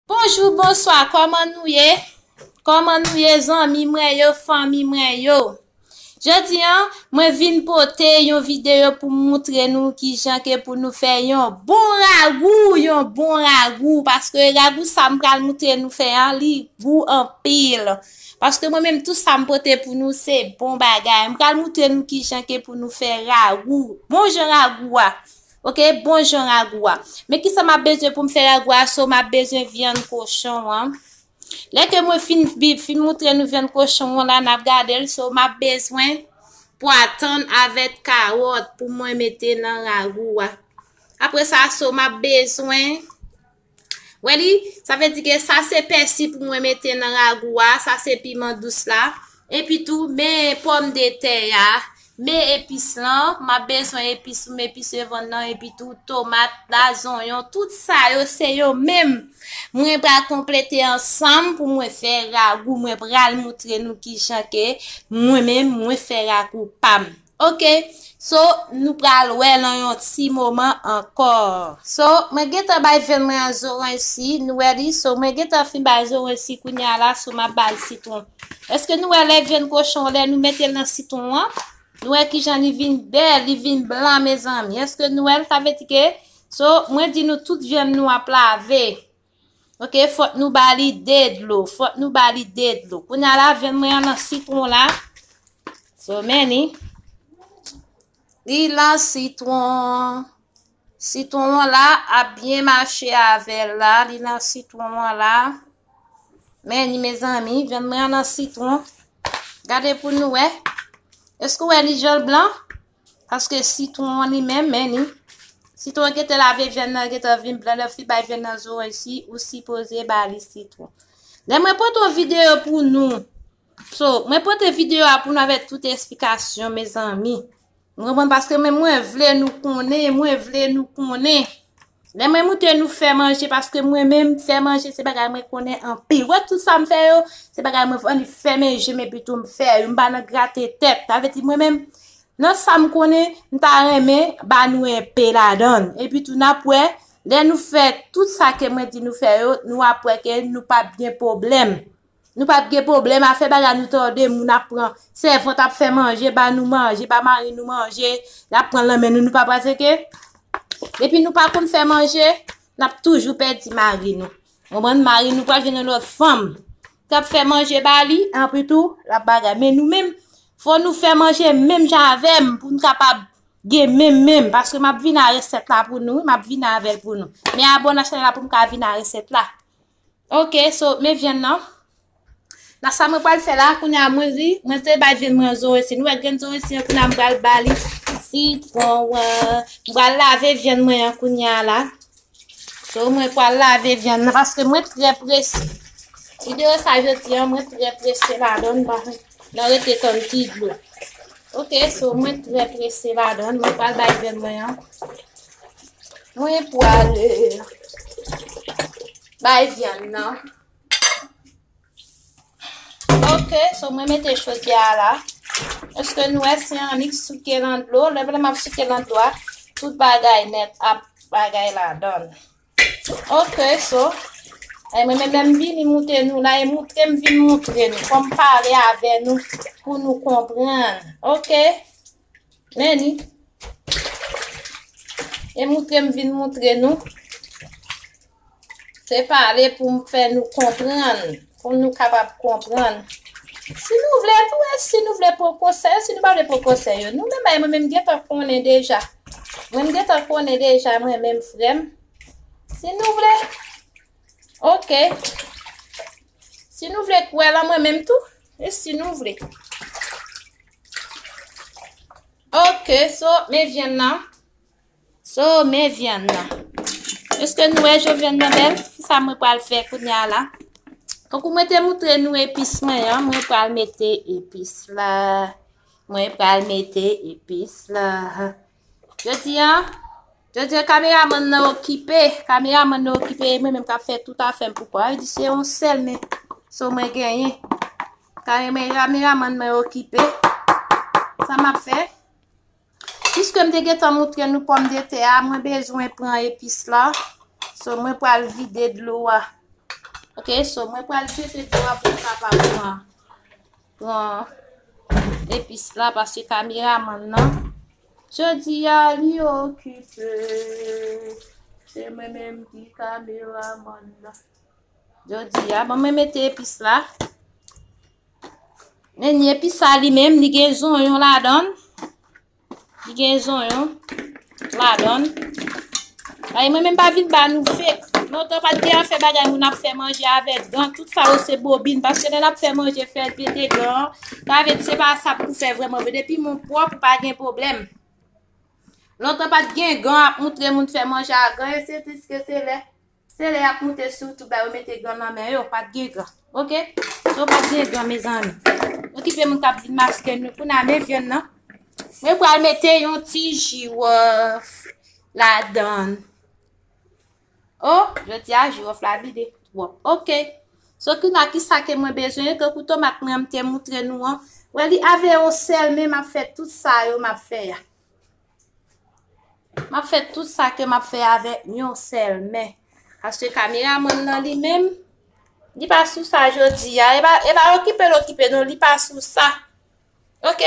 Bonjou bonswa kòman nou ye kòman nou ye zanmi mwen yo fanmi mwen yo jodi an mwen vin pote yon videyo pou m moutre nou ki jan ke pou nou fè yon bon ragou yon bon ragou paske ragou sa m pral moutre nou fè an li gou anpil paske mwen menm tout sa m pote pou nou se bon bagay m pral moutre nou ki jan ke pou nou fè ragou bon jan ragou a. Ok bon jan ragou a. Men ki sa m ap bezwen pou m fè ragou a so m ap bezwen vyann kochon an. Lè ke mwen fin bi fin moutre nou vyann kochon an la n ap gade l so m ap bezwen pwa tann avèk kawòt pou mwen mete nan ragou a. Apre sa so m ap bezwen. Wè li, sa vle di ke sa se pèsi pou mwen mete nan ragou a, sa se piman dous la. Epi tou, men pòm de tè ya, men epis lan, m ap bezwen epis pou m epise vann nan, epi tou tomat la, zonyon, tout sa yo se yo menm. Mwen pral konplete ansanm pou mwen fè ragou, mwen pral moutre nou ki jan ke mwen menm mwen fè ragou pa m. Ok so nou pral wè lan yon ti moman ankò. So mwen gentan bay vèn mwen an zoranj si nou wè li so mwen gentan fin bay zoranj si kounya la so map bal sitwon eske nou wè lè vèn kochon lè nou metel nan sitwon an nou wè kijan li vin bèl li vin blan mezanmi eske nou wèl sa vle di ke so mwen di nou tout vyann nou ap lave Ok, fòk nou ba li de dlo, fòk nou ba li de dlo. Koun ya la vyann mwen an lan sitron la. So many. Li lan sitron. Sitron an la ap byen mache avèl la. Li lan sitron an la. Men ni mezanmi, vyann mwen an lan sitron. Gade pou nou wè. Eskou wè li jan blan? Paske sitwon an li menm men ni. Sitwon an gete lave vyann nan gete vin blan lè fi bay vyann nan zoranj si ou sipoze ba li sitwon. Lè mwen pote yon videyo pou nou. So, mwen pote videyo a pou nou avèk tout esplikasyon me zanmi. Mwen mwen paske mwen mwen vle nou konnen, mwen vle nou konnen. Lè mwen moute nou fè manje paske mwen menm fè manje se bagay mwen konnen anpil. Wè tout sa m fè yo, se bagay mwen vin fèmen je m epi tou m fè yo. M pa nan grate tèt. Sa vle di mwen menm nan sa m konnen, m ta renmen ba nou enpe ladan. Epi tou n ap wè, lè nou fè tout sa ke mwen di nou fè yo, nou ap wè ke nou pap gen pwoblèm. Nou pap gen pwoblèm afè bagay nou tòde moun ap pran sèvant ap fè manje ba nou manje ba mari nou manje lap pranl nan men nou nou pa pratike depi nou pa konn fè manje nap toujou pèdi mari nou konprann mari nou pral jwenn yon lòt fanm kap fè manje ba li anpi tou lap bagay men nou menm fò nou fè manje menm jan avèm poun kapab gen menm menm paske map vin a resèt la pou nou wi map vin avèl pou nou men abòne a chanèl la poum ka vin a resèt la. Ok so men vyann nan. Nan sa mwen pral fè la kounye a mwen ri, mwen te bay vyann mwen zoresi. Nou wè grenn zoresi an kounye a mwen pral ba li sitron an. Mwen pral lave vyann mwen an kounye a la. So mwen pral lave vyann nan paske mwen trè prese. Videyo sa jodi an mwen trè prese la donn ba. Nan rete tann ti dlo. Ok, so mwen trè prese madan, mwen pral bay bèn mwen an. Mwen pral bay vyan nan. Ok, so mwen mete chodye a la. Eske nou wè si an nik souke nan dlo? Lè mwen ap souke nan dlo a, tout bagay nèt ap bagay la dan. Ok so e mwen menm lèm vini moute nou la e moutrem vin moutre nou fòm pale avè nou pou nou konprann ok meni e moutrem vin moutre nou se pale pou m fè nou konprann Pou nou kapab konprann. Si nou vle nou wè, si nou vle pran konsèy, si nou pa vle pran konsèy yo. Nou menm ay mwen menm gen tan konnen deja. Mwen gen tan konnen deja mwen menm frè m. Si nou vle, ok. Si nou vle kwè lan mwen menm tou, e si nou vle. Ok, so men vyann nan. So, men vyann nan. Eske nou wè jan vyann nan bèl? Sa mwen pral fè kounya la. Tankou mwen te moutre nou epis mwen an, mwen pral mete epis la. Mwen pral mete epis la. Jodi an, jodi an kameraman nan okipe. Kameraman nan okipe, mwen menm kap fè tout afèm pou kwa. Di se yon sèl men, so mwen genyen. Kameraman nan okipe. Sa map fè? Piske m te gentan moutre nou pòmdetè a, mwen bezwen pran epis la. So, mwen pral vide dlo a. Ok, so, mwen pral jete dlo a pou m kapab pran pran epis la, paske kameraman nan. Jodi a, li okipe. Se mwen menm ki kameraman nan. Jodi a, ban mwen mete epis la. Men ni epis sa li menm, li gen zonyon la dan. Li gen zonyon la dan. Ay, mwen menm pa vin ba nou fek. Non tan pat gen an fe bagay moun ap fe manje ave dan. Tout sa yo se bobin. Paske lè nap fe manje fe pete dan. Sa ve di se pa sa pou fe vreman. Ve depi moun pwop ou pa gen problem. Non tan pat gen gan ap moutre moun fe manje a gan. E se diske se lè. Se lè yap moute sou tout bay yo mete gan nan men yo pat gen gan ok yo pat gen gan mezanmi okipe moun kap vin mache nou kou na men vyann nan mwen pral mete yon ti jirof la dan o jodi a jirof la vide twop ok so kou na ki sa ke mwen bezwen to kou tomat mwen mte moutre nou an wè li ave yo sel men map fè tout sa yo map fè ya. Map fè tout sa ke map fè avè yon sèl men. Aske kamera mwen nan li menm, li pa sou sa jodi ya. E ba, e ba okipe l okipe non, li pa sou sa. Ok?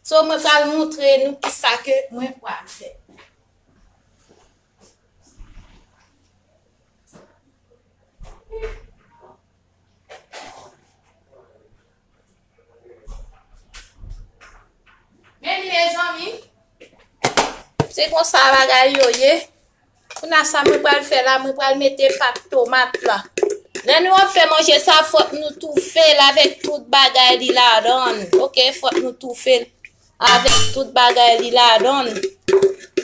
So mwen pral moutre nou ki sa ke mwen pral fè. Meni mezanmi, se konsa bagay yo ye. Pou na sa mwen pral fè la, mwen pral mete pat tomat la. Lè nou ap fè manje sa, fòk nou toufe l avèk tout bagay li la dan. Ok, fòk nou toufe l. Avèk tout bagay li ladann.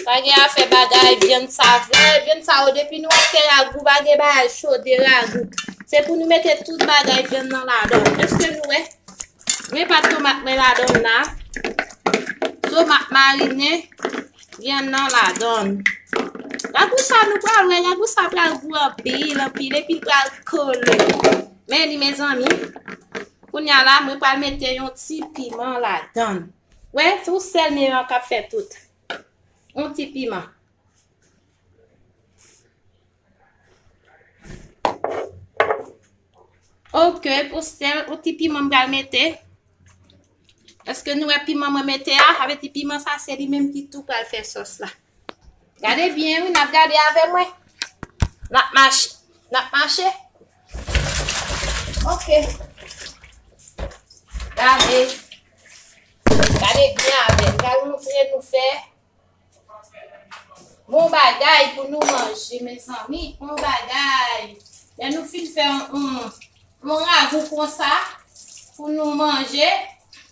Pa gen afè bagay vyann sa vre. Vyann sa yo depi nou ap fè ragou pa gen bagay chode ragou. Se pou nou mete tout bagay vyann nan ladann. Eske nou wè? Mwen pat tomat mwen ladann la. Tomat marine vyann nan ladann. Ragou sa nou pral wè. Ragou sa pral gou anpil anpil. Epi pral kole. Men li mezanmi. Kounya la mwen pral mete yon ti piman ladann. Wè se ou sèl men an kap fè tout. Yon ti piman. Ok pou sèl yon ti piman m pral mete. Eske nou wè piman mwen mete a? Sa vle di piman sa se li menm ki tou pral fè sòs la. Gade byen wi nap gade avè mwen. Nap mache. Nap mache. Ok. Gade. Gade byen avè. Gade nou fè nou fè. Bon bagay pou nou manje men zanmi. Bon bagay. Lè nou fin fè yon. Yon ragou konsa. Pou nou manje.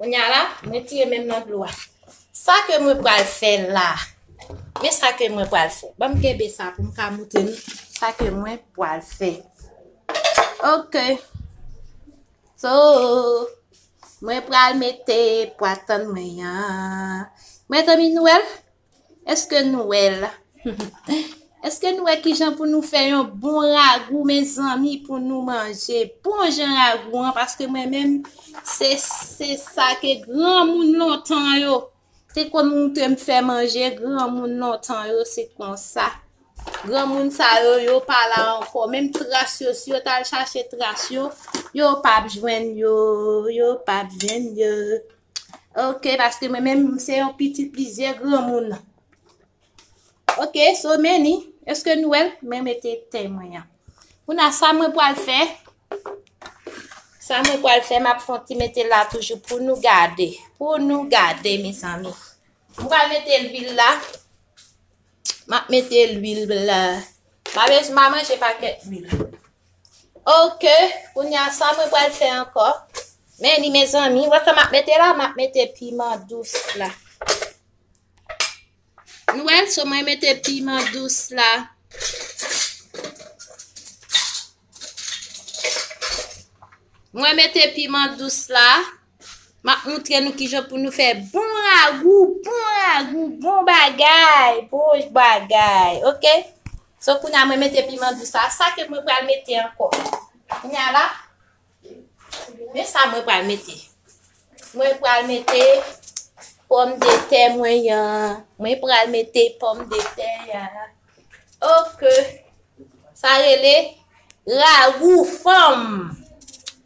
Kounya la, mwen tire menm nan dlo a. Sa ke mwen pral fè la. Men sa ke mwen pral fè. Ban m kenbe sa pou m ka moutre nou sa ke mwen pral fè. Ok. So, mwen pral mete pwa tann mwen yan. Mwen zanmi nou el? Eske nou wè l? Eske nou wè ki jan pou nou fè yon bon ragou men zanmi pou nou manje? Bon jan ragou an, paske mwen menm, se sa ke gran moun lontan yo, te kon moun te m fè manje, gran moun lontan yo, se kon sa. Gran moun sa yo, yo pa la ankò, menm tras yo, si yo tal chache tras yo, yo pap jwenn yo, yo pap jwenn yo. Ok, paske mwen menm se yon pitit plizyè granmoun. Ok, so meni, eske nou el, mwen mete te mwen ya. Mwen a sa mwen pwal fè. Sa mwen pwal fè, map fon ti mete la toujou pou nou gade. Pou nou gade, mes ami. Mwen pwal mete lwil la. Map mete lwil la. Mwen a manje paket lwil. Ok kounya sa mwen pral fè ankò. Men li mezanmi, wè sa map mete la, map mete piman dous la. Nou wè, so mwen mete piman dous la. Mwen mete piman dous la. Map moutre nou kijan pou nou fè bon ragou, bon ragou, bon bagay, bon bagay, ok? So koun ya mwen mete piman dous la, sa ke mwen pral mete anko? Koun ya la, men sa mwen pral mete. Mwen pral mete pom de te mwen yan, mwen pral mete pom de te ya, ok? Sa rele ragou fanm.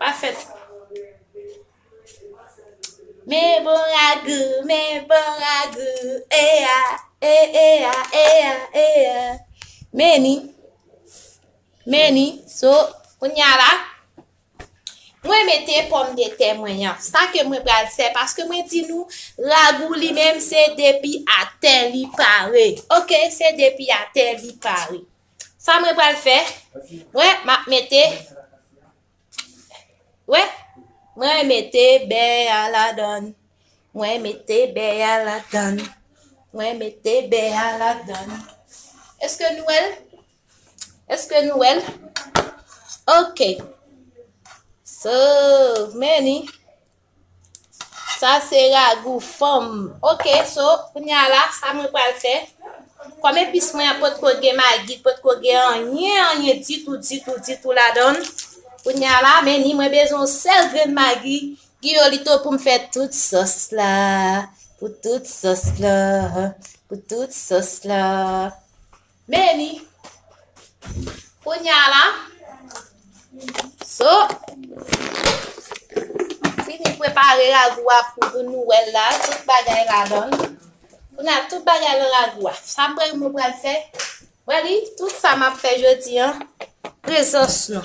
Pa fè sa. Me bon ragou, me bon ragou, e a, e e a, e a, e a. Meni, meni, so, kounya la, mwen mete pòm de tè mwen yan. Sa ke mwen pral fè, paske mwen di nou, ragou li menm se depi a tè li pare. Ok, se depi a tè li pare. Sa mwen pral fè, mwen map mete, wè, mwen mete bè a la dan, mwen mete bè a la dan, mwen mete bè a la dan. Eske nou wèl? Eske nou wèl? Ok. So, many. Sa se ragou fanm. Ok, so, kounye a la, sa mwen pral fè. Kòm epis mwen an potko gen magi, potko gen anyen, anyen ditou, ditou, ditou la don. Kounye a la, men ni mwen bezon sèl gren magi. Giyo li to pou m fè tout sos la. Pou tout sos la. Pou tout sos la. Meni. Kounya la. So. Fini prepare ragou a pou pou nou wè la. Tout bagay la don. Kounya tout bagay la ragou a. Sa m pral mou pral fè. Wè li, tout sa m ap fè jodi an. Prezans nou.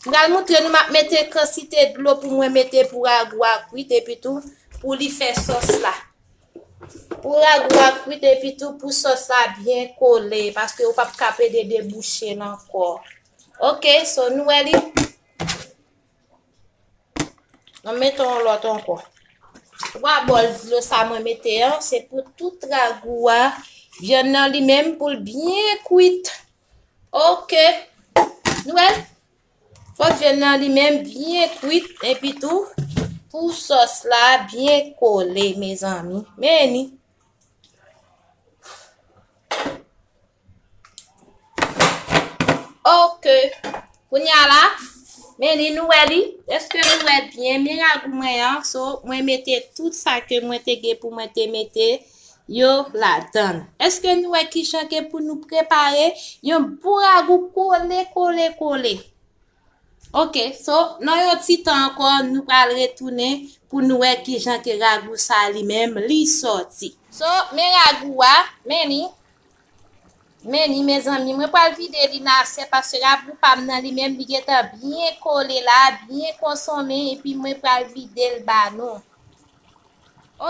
M pral moutre nou m ap mete kansite dlo pou mwen mete pou ragou a kwit epi tou pou li fè sos la. Pou ragou a kwit epi tou pou sòs la byen kole paske ou pap ka pede debouche l ankò. Ok, so nou wè li. Mwen mete yon lòt ankò. 3 bòl dlo sa mwen mete an, se pou tout ragou a, vyann nan li menm pou l byen kwit. Ok, nou wè, Fòk vyann nan li menm byen kwit epi tou pou sòs la byen kole mezanmi. Meni. Ok. Kounya la, meni nou wè li. Eske nou wè byen miragou mwen an? So, mwen mete tout sa ke mwen te gen pou mwen te mete. yo ladan l. Eske nou wè ki jan ke pou nou prepare yon bon ragou kole kole kole. Ok, so nan yon ti tan ankò nou pral retounen pou nou wè ki jan ke ragou sa li menm li sòti. So men ragou a, men li, men li mezanmi mwen pral vide li nan asyèt paske ragou pa m nan li menm li gentan byen kole la, byen konsonmen epi mwen pral vide l ba nou.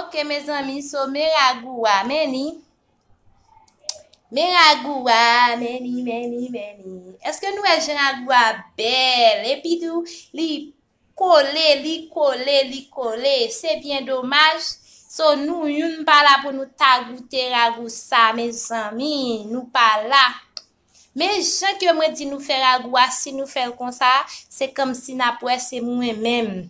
Ok mezanmi so men ragou wa men ni Men ragou wa men ni men ni men ni Eske nou wè jan ragou wa bèl epi tou li kole li kole li kole se byen domaj So nou youn pa la pou nou ta goute ragou sa mezanmi nou pa la. Men jan ke mwen di nou fè ragou a si nou fèl konsa se kòmsi nap wè se mwen menm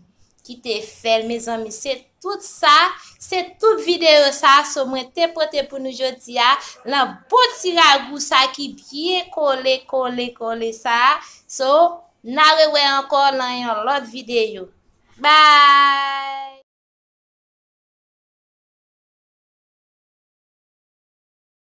ki te fèl mezanmi se tout sa se tout videyo sa so mwen te pote pou nou jodi a lan bon ti ragou sa ki byen kole kole kole sa so na rewè ankò lan yon lòt videyo bye.